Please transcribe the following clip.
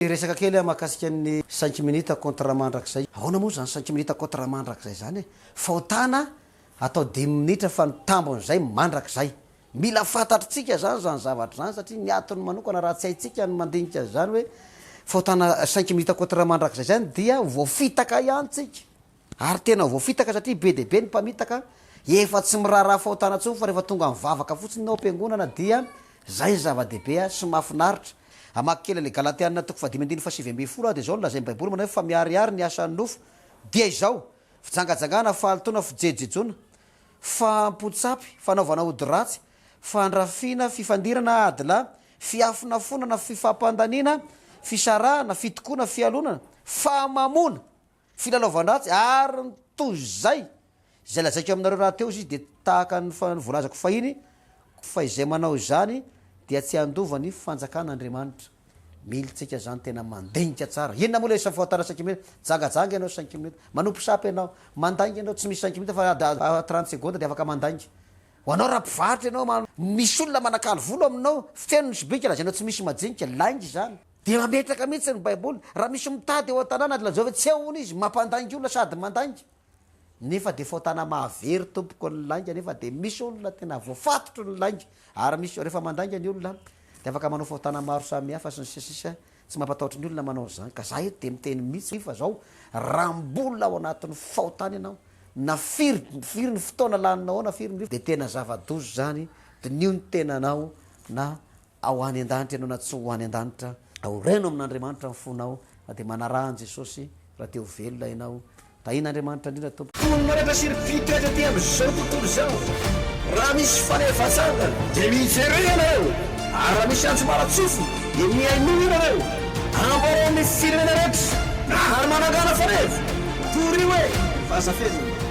Hiresaka kely aho mahakasika ny cinq minutes contre mandrakizay. Ahoana moa izany cinq minutes contre mandrakizay izany e? Fahotana atao dimy minitra fa ny tambin'izay mandrakizay. Mila fantatritsika izany izany zavatra izany satria ny atony manokana raha tsy haintsika ny mandinika an'izany hoe fahotana cinq minutes contre mandrakizay izany dia voafitaka ihany tsika. Ary tena voafitaka satria be dia be ny mpamitaka, efa tsy miraharaha fahotana intsony fa rehefa tonga mivavaka fotsiny ao am-piangonana dia izay ny zava-dehibe sy mahafinaritra. Hamaky kely an'ilay Galatiana toko fahadimy andininy fahasivy ambin'ny folo aho dia izao no lazain'ny Baiboly manao hoe fa miharihary ny asan'ny nofo dia izao, fijangajangana, fahalotoana, fijejojejoana, fahampotsapy, fanaovana ody ratsy, fandrafiana, fifandirana, ady lahy, fiafonafonana, fifampandaniana, fisarahana, fitokoana, fialonana, fahamamoana. Filalaovan-dratsy ary ny toy izay. Izay lazaiko aminareo rahateo izy dia tahaka ny voalazako fahiny, fa izay manao izany dia tsy handova ny fanjakan'Andriamanitra. Mihilintsika izany tena mandinika tsara. Inona moa ilay isa fahotana cinq minutes? Jangajanga ianao cinq minutes. Manompo sampy ianao. Mandainga ianao, tsy misy cinq minutes fa ady trente secondes dia afaka mandainga. Ho anao raha mpivarotra ianao, misy olona manakalo vola ao aminao, feno ny sobika, lazainao tsy misy majinika, lainga izany. Dia mametraka mihitsy ny Baiboly, raha misy mitady ao an-tanàna dia lazao hoe tsy ao hono izy, mampandainga olona sady mandainga. Nefa dia fahotana mahavery tompoko ny lainga nefa dia misy olona tena voafatotry ny lainga ary misy rehefa mandainga ny olona dia afaka manao fahotana maro samihafa sy ny sisa sy ny sisa tsy mampatahotra ny olona manao an'izany ka za eto dia miteny mihitsy fa zao raha mbola ao anatin'ny fahotana ianao na firy firy ny fotoana laninao ao na firy ny rivotra dia tena zava-doza izany diniho ny tenanao na Ao any an-danitra ianao na tsy ho any an-danitra, aoreno amin'Andriamanitra ny fonao dia manaraha an'i Jesosy raha te ho velona ianao. Tahin'Andriamanitra indrindra tompoko. Fony manatra sy ry Vito eto aty amin'izao tontolo izao. Raha misy fanefatsangana dia mivereo ianareo ary raha misy antso maratsofo dia mihainoa ianareo. Ambarao amin'ny firenena rehetra na hany manangana faneva, torio e! Fa aza feno.